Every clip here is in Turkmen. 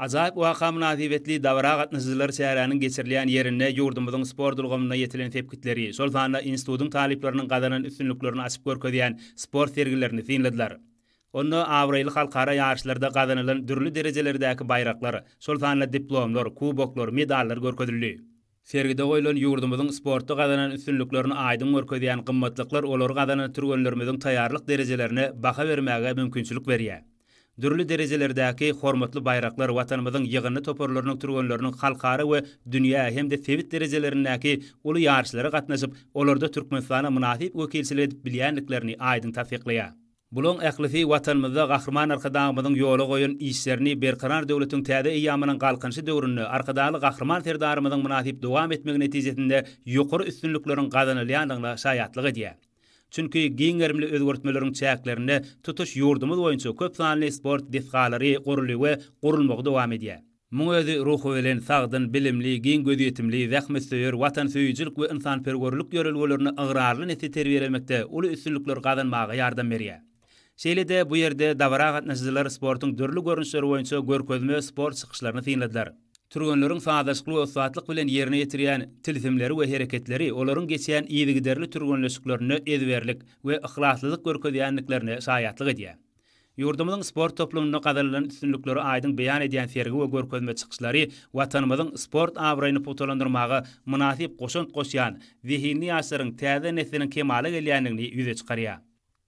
Ajaýyp waka mynasybetli dabara gatnaşyjylar çäräniň geçirilýän ýerinde ýurdumyzyň sport ulgamynda ýetilen sepgitleri, şol sanda institutyň talyplarynyň gazanan üstünliklerini açyp görkezýän sport sergilerini synladylar. Onda abraýly halkara ýaryşlarda gazanylan dürli derejelerdäki baýraklar, şol sanda diplomlar, kuboklar, medallar görkezildi. Sergide goýlan ýurdumyzyň sportda gazanan üstünliklerini aýdyň görkezýän gymmatlyklar olary gazanan türgenlerimiziň taýýarlyk derejelerine baha bermäge mümkinçilik berýär. Dürli derejelerdäki hormatly baýraklar Watanymyzyň ýygyndy toparlarynyň türgenleriniň halkara we dünýä hem-de sebit derejelerindäki uly ýaryşlara gatnaşyp, olarda Türkmenistana mynasyp wekilçilik edip bilýändiklerini aýdyň tassyklaýar. Bulaň ählisi Watanymyzda Gahryman Arkadagymyzyň ýola goýan işlerini Berkarar döwletiň täze eýýamynyň Galkynyşy döwründe Arkadagly Gahryman Serdarymyzyň mynasyp dowam etmegi netijesinde ýokary üstünlikleriň gazanylýandygyna şaýatlyk edýär. Çünki giň gerimli özgertmeleriň çäklerinde tutuş ýurdumyz boýunça köp sanly sport desgalary guruldy we gurulmagy dowam edýär. Muň özi ruhubelent, sagdyn, bilimli, giň gözýetimli, zähmetsöýer, watansöýüjilik we ynsanperwerlik ýörelgelerine ygrarly nesli terbiýelemekde uly üstünlikler gazanmaga ýardam berýär. Şeýle-de bu ýerde dabara gatnaşyjylar sportuň dürli görnüşleri boýunça görkezme sport çykyşlaryny synladylar. Türgenleriň sazlaşykly we ussatlyk bilen ýerine ýetirýän tilsimleri we hereketleri olaryň geçýän yzygiderli türgenleşiklerinde ezberlik we yhlaslylyk görkezýändiklerine şaýatlyk edýär. Ýurdumyzyň sport toplumynda gazanylan üstünlikleri aýdyň beýan edýän sergi we görkezme çykyşlary Watanymyzyň sport abraýyny pugtalandyrmaga mynasyp goşant goşýan zehinli ýaşlaryň täze nesliniň kemala gelýändigini ýüze çykarýar.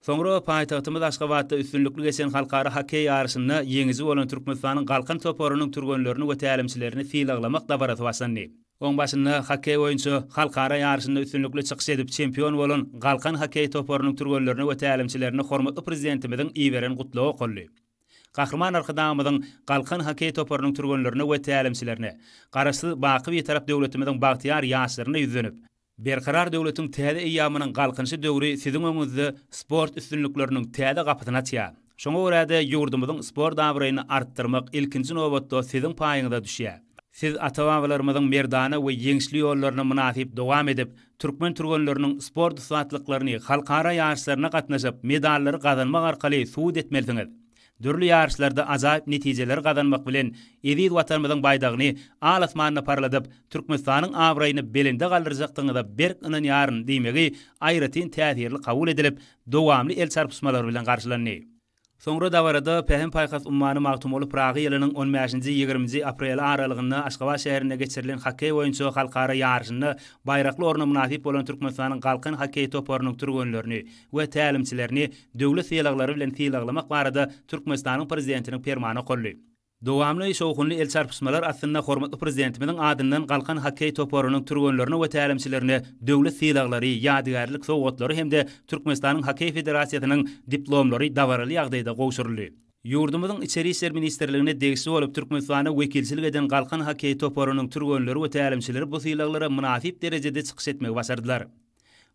Soňra paýtagtymyz Aşgabatda üstünlikli geçen halkara hokkeý ýaryşynda ýeňiji bolan Türkmenistanyň Galkan toparynyň türgenlerini we tälimçilerini sylaglamak dabarasy başlandy. Oň başynda hokkeý boýunça halkara ýaryşynda üstünlikli çykyş edip, çempion bolan Galkan hokkeý toparynyň türgenlerine we tälimçilerine hormatly Prezidentimiziň iberen Gutlagy okaldy. Gahryman Arkadagymyzyň Galkan hokkeý toparynyň türgenlerine we tälimçilerine, Garaşsyz, baky Bitarap döwletimiziň bagtyýar ýaşlaryna ýüzlenip, Berkarar döwletiň täze eýýamynyň Galkynyşy döwri siziň öňüňizde sport üstünlikleriniň täze gapysyny açýar. Şoňa görä-de, ýurdumyzyň sport abraýyny artdyrmak ilkinji nobatda siziň paýyňyza düşýär. Siz ata-babalarymyzyň merdana we ýeňişli ýollaryny mynasyp dowam edip, türkmen türgenleriniň sport ussatlyklaryny halkara ýaryşlaryna gatnaşyp, medallary gazanmak arkaly subut etmelisiňiz. Dürli ýaryşlarda ajaýyp netijeleri gazanmak bilen, eziz Watanymyzyň baýdagyny al asmanda parladyp, Türkmenistanyň abraýyny belende galdyrjakdygyňyza berk ynanýaryn diýmegi aýratyn täsirli kabul edilip, dowamly el çarpyşmalar bilen garşylandy. Soňra dabarada Pähim-paýhas ummany Magtymguly Pyragy ýylynyň on bäşinji, ýigriminji apreli aralygynda Aşgabat şäherinde geçirilen hokkeý boýunça halkara ýaryşynda baýrakly orna mynasyp bolan Türkmenistanyň Galkan hokkeý toparynyň türgenlerini, we tälimçilerini döwlet sylaglary bilen sylaglamak barada Türkmenistanyň Prezidentiniň Permany okaldy. Dowamly şowhunly el çarpyşmalar astynda hormatly Prezidentimiziň adyndan Galkan hokkeý toparynyň türgenlerine we tälimçilerine döwlet sylaglary, ýadygärlik sowgatlary hem-de Türkmenistanyň Hokkeý federasiýasynyň diplomlary dabaraly ýagdaýda gowşuryldy. Ýurdumyzyň Içeri işler ministrligine degişli bolup Türkmenistana wekilçilik eden Galkan hokkeý toparynyň türgenleri we tälimçileri bu sylaglara mynasyp derejede çykyş etmegi başardylar.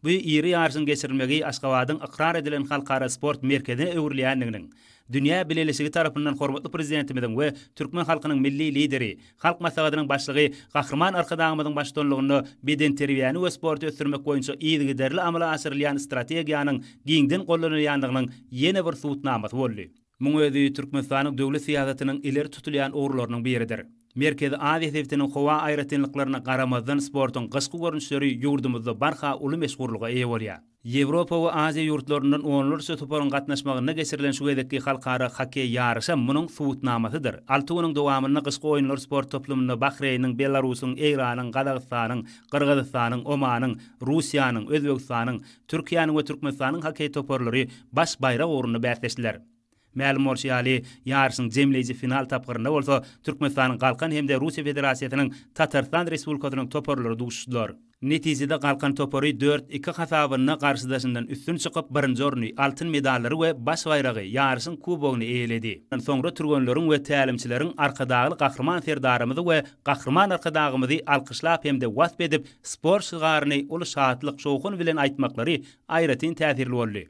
Bu iri ýaryşyň geçirilmegi Aşgabadyň ykrar edilen halkara sport merkezine öwrülýändiginiň, dünýä bileleşigi tarapyndan hormatly Prezidentimiziň we türkmen halkynyň Milli Lideri, Halk Maslahatynyň Başlygy Gahryman Arkadagymyzyň baştutanlygynda bedenterbiýäni we sporty ösdürmek boýunça yzygiderli amala aşyrylýan strategiýanyň giňden gollanylýandygynyň ýene bir subutnamasy boldy. Muň özi Türkmenistanyň döwlet syýasatynyň ileri tutulýan ugurlarynyň biridir. Merkezi Aziýa sebitiniň howa aýratynlyklaryna garamazdan sportuň gyşky görnüşleri ýurdumyzda barha uly meşhurlyga eýe bolýar. Ýewropa we Aziýa ýurtlaryndan onlarça toparyň gatnaşmagynda geçirilen şu gezekki halkara hokkeý ýaryşam munuň subutnamasydyr. Alty günüň dowamynda Gyşky oýunlar sport toplumynda Bahreýniň, Belarusyň, Eýranyň, Gazagystanyň, Gyrgyzystanyň, Omanyň, Russiýanyň, Özbegistanyň, Türkiýäniň we Türkmenistanyň hokkeý toparlary baş baýrak ugrunda bäsleşdiler. Mälim bolşy ýaly, ýaryşyň jemleýji final tapgyrynda bolsa Türkmenistanyň Galkan hem-de Russiýa Federasiýasynyň Tatarystan Respublikasynyň toparlary duşdular. Netijede Galkan topary dört, iki hasabynda garşydaşyndan üstün çykyp, birinji orny, altyn medallary we baş baýragy, ýaryşyň kubogyny eýeledi. Soňra türgenleriň we tälimçileriň Arkadagly Gahryman Serdarymyzy we Gahryman Arkadagymyzy alkyşlap hem-de wasp edip, sport şygaryny uly şatlyk-şowhun bilen aýtmaklary aýratyn täsirli boldy.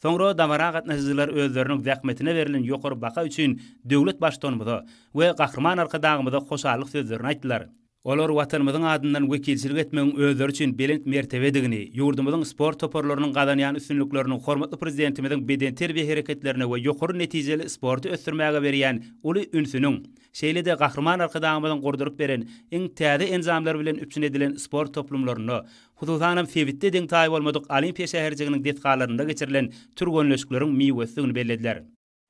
Soňra dabara gatnaşyjylar özleriniň zähmetine berlen ýokary baha üçin döwlet Baştutanymyza we Gahryman Arkadagymyza hoşallyk sözlerini aýtdylar. Olar Watanymyzyň adyndan wekilçilik etmegiň özleri üçin belent mertebedigini, ýurdumyzyň sport toparlarynyň gazanýan üstünlikleriniň hormatly Prezidentimiziň bedenterbiýe hereketlerine we ýokary netijeli sporty ösdürmäge berýän uly ünsüniň, Şeýle-de Gahryman Arkadagymyzyň gurduryp beren iň täze enjamlary bilen üpjün edilen sport toplumlarynda, hususanam sebitde deň-taýy bolmadyk Olimpiýa şäherjiginiň desgalarynda geçirilen türgenleşikleriň miwesidigini bellediler.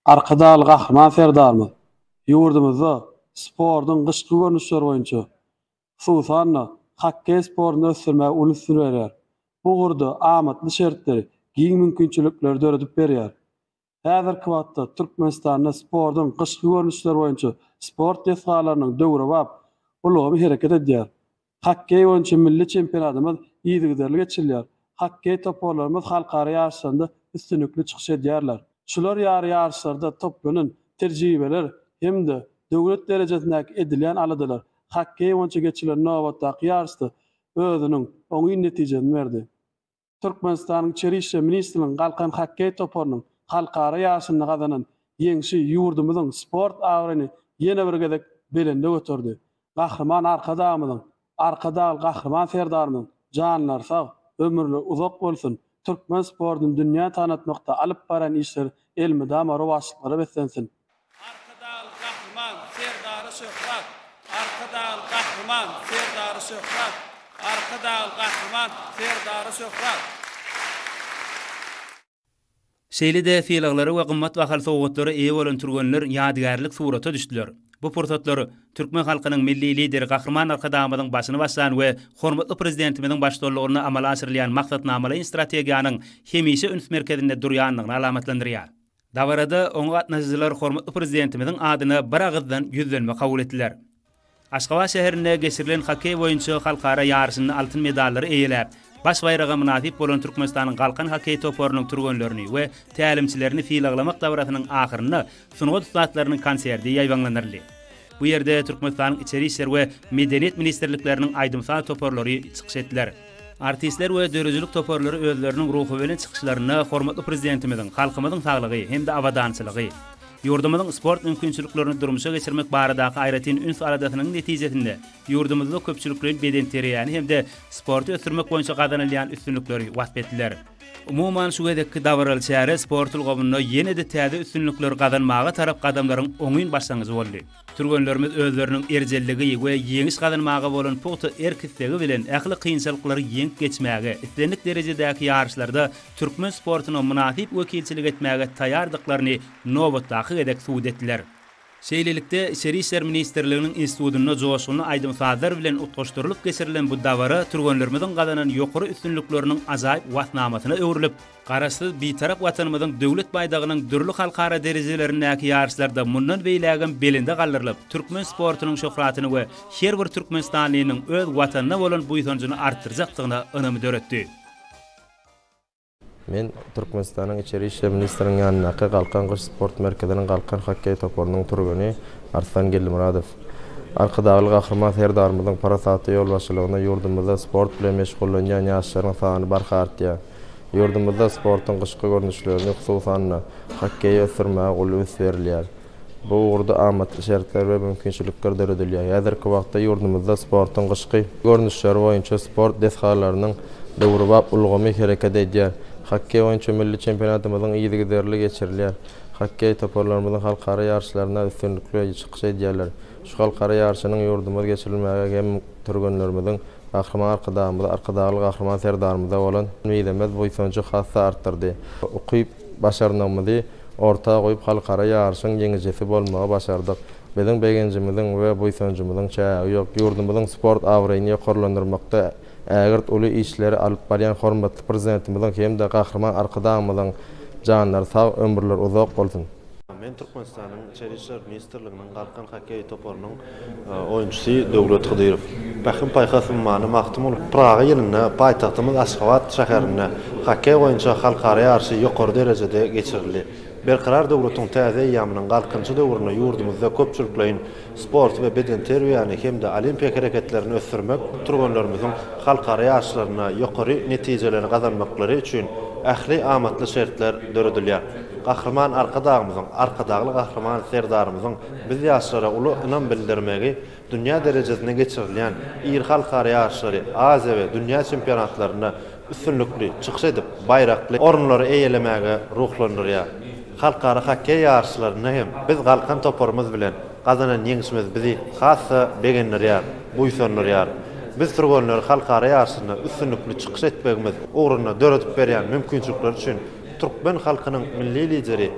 Arkadagly Gahryman Serdarymyz ýurdumyzda sportuň gyşky görnüşleri boýunça, hususan-da, hokkeý sportuny ösdürmäge uly ünsüni berýär. Bu ugurda amatly şertleri, giň mümkinçilikleri döredip berýär. Häzirki wagtda Türkmenistanda sportuň gyşky görnüşleri boýunça sport desgalarynyň döwrebap ulgamy hereket edýär. Hokkeý boýunça milli çempionatymyz yzygiderli geçirilýär. Hokkeý toparlarymyz halkara ýaryşlarynda üstünlikli çykyş edýärler. Şular ýaly ýaryşlarda toplanan tejribeler hem-de döwlet derejesindäki edilýän aladalar hokkeý boýunça geçirilen nobatdaky ýaryşda özüniň oňyn netijesini berdi. Türkmenistanyň Içeri işler ministrliginiň Galkan hokkeý toparynyň halkara ýaryşynda gazanan ýeňşi ýurdumyzyň sport abraýyny ýene bir gezek belende göterdi. Gahryman Arkadagymyzyň, Arkadagly Gahryman Serdarymyzyň janlary sag, ömürleri uzak bolsun, türkmen sportuny dünýä tanatmakda alyp barýan işleri elmydama rowaçlyklara beslensin! Arkadagly Gahryman Serdary Şöhrat Arkadagly Gahryman Serdary Şöhrat Arkadagly Gahryman Serdary Şöhrat. Şeýle-de sylaglara we gymmat bahaly sowgatlara eýe bolan türgenler ýadygärlik surata düşdüler. Bu pursatlar türkmen halkynyň Milli Lideri Gahryman Arkadagymyzyň başyny başlan we hormatly Prezidentimiziň baştullygynda amala aşyrylýan maksatnamalaýyn strategiýanyň hemişe üns merkezinde durýandygyny alamatlandyrýar. Dabarada oňa gatnaşyjylar hormatly Prezidentimiziň adyna biragyzdan ýüzlenme kabul etdiler. Aşgabat şäherinde geçirilen hokkeý boýunça halkara ýaryşynda altyn medallary eýeläp, baş baýraga mynasyp bolan Türkmenistanyň Galkan hokkeý toparynyň türgenlerini we tälimçilerini sylaglamak dabarasynyň ahyrynda sungat ussatlarynyň konserti ýaýbaňlandyryldy. Bu ýerde Türkmenistanyň Içeri işler we Medeniýet ministrlikleriniň aýdym-saz toparlary çykyş etdiler. Artistler we döredijilik toparlary özleriniň ruhubelent çykyşlarynda hormatly Prezidentimiziň halkymyzyň saglygy hem-de abadançylygy, ýurdumyzyň sport mümkinçiliklerini durmuşa geçirmek baradaky aýratyn üns-aladasynyň netijesinde ýurdumyzda köpçülikleýin bedenterbiýäni hem-de sporty ösdürmek boýunça gazanylýan üstünlikleri wasp etdiler. Umuman, şu gezekki dabaraly çäre sport ulgamynda ýene-de täze üstünlikleri gazanmaga tarap gadamlaryň oňyn başlangyjy boldy. Türgenlerimiz özleriniň erjelligi we ýeňiş gazanmaga bolan pugta erk-islegi bilen ähli kynçylyklary ýeňip geçmäge, islendik derejedäki ýaryşlarda türkmen sportuna mynasyp wekilçilik etmäge taýýardyklaryny nobatdaky gezek subut etdiler. Şeýlelikde, Içeri işler ministrliginiň institutynda joşgunly aýdym-sazlar bilen utgaşdyrylyp geçirilen bu dabara türgenlerimiziň gazanan ýokary üstünlikleriniň ajaýyp waspnamasyna öwrülip, Garaşsyz Bitarap Watanymyzyň Döwlet baýdagynyň dürli halkara derejelerindäki ýaryşlarda mundan beýlägem belende galdyrylyp, türkmen sportunyň şöhratyny we her bir türkmenistanlynyň öz Watanyna bolan buýsanjyny artdyrjakdygyna ynamy döretdi. Men Türkmenistanyň Içeri işler ministriniň ýanyndaky Galkan gyş sport merkeziniň Galkan hokkeý toparynyň türgeni Arslan Geldimyradow, Arkadagly Gahryman Serdarymyzyň parasatly ýolbaşçylygynda ýurdumyzda sport bilen meşgullanýan ýaşlaryň sany barha artýar. Ýurdumyzda sportuň gyşky görnüşlerini, hususan-da, hokkeýi ösdürmäge uly üns berilýär. Bu ugurda amatly şertler we mümkinçilikler döredilýär. Häzirki wagtda ýurdumyzda sportuň gyşky görnüşleri boýunça sport desgalarynyň döwrebap ulgamy hereket edýär. Hokkeý boýunça milli çempionatymyzyň yzygiderli geçirilýär. Hokkeý toparlarymyzyň halkara ýaryşlarynda üstünlikli çykyş edýärler. Şu halkara ýaryşynyň ýurdumyz geçirilmäge hem türgenlerimiziň Gahryman Arkadagymyza, Arkadagly Gahryman Serdarymyza bolan mizemez buýsanjy has-da artdyrdy. Ukyp-başarnygymyzy orta goýup halkara ýaryşyň ýeňijisi bolmagy başardyk. Biziň begenjimiziň we buýsanjymyzyň çägi ýok. Ýurdumyzyň sport abraýyny ýokarlandyrmakda ägirt uly işleri alyp barýan hormatly Prezidentimiziň hem-de Gahryman Arkadagymyzyň janlary sag, ömürleri uzak bolsun! Içeri işler ministrliginiň Galkan hokkeý toparynyň oýunçysy Döwlet Hydyrow, Pähim-paýhas ummany Magtymguly Pyragy ýylynda paýtagtymyz Aşgabat şäherinde hokkeý boýunça halkara ýaryşy ýokary derejede geçirildi. Berkarar döwletiň täze eýýamynyň Galkynyşy döwründe ýurdumyzda köpçülikleýin sporty we bedenterbiýäni hem-de olimpiýa hereketlerini ösdürmek türgenlerimiziň halkara ýaryşlarynda ýokary netijeleri gazanmaklary üçin ähli amatly şertler döredilýär. Gahryman Arkadagymyzyň, Arkadagly Gahryman Serdarymyzyň biz ýaşlara uly ynam bildirmegi, dünýä derejesinde geçirilýän iri halkara ýaryşlary, Aziýa we dünýä çempionatlarynda üstünlikli çykyş edip, baýrakly orunlary eýelemäge ruhlandyrýar. Halkara hokkeý ýaryşlarynda hem biz galkan toparymyz bilen gazanan ýeňşimiz bizi has-da begendirýär, buýsandyrýar. Biz türgenleri halkara ýaryşynda üstünlikli çykyş etmegimiz ugrunda döredip berýän mümkinçilikler üçin Türkmen halkynyň Milli Lideri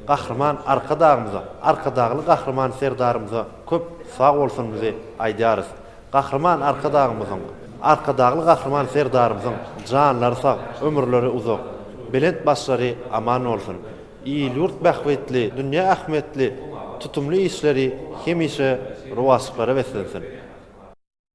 Gahryman Arkadagymyza, Arkadagly Gahryman Serdarymyza köp sag bolsunyzy aýdýarys. Gahryman Arkadagymyzyň, Arkadagly Gahryman Serdarymyzyň janlary sag, ömürleri uzak, belent başlary aman bolsun! Il-ýurt bähbitli, dünýä ähmiýetli tutumly işleri hemişe rowaçlyklara beslensin!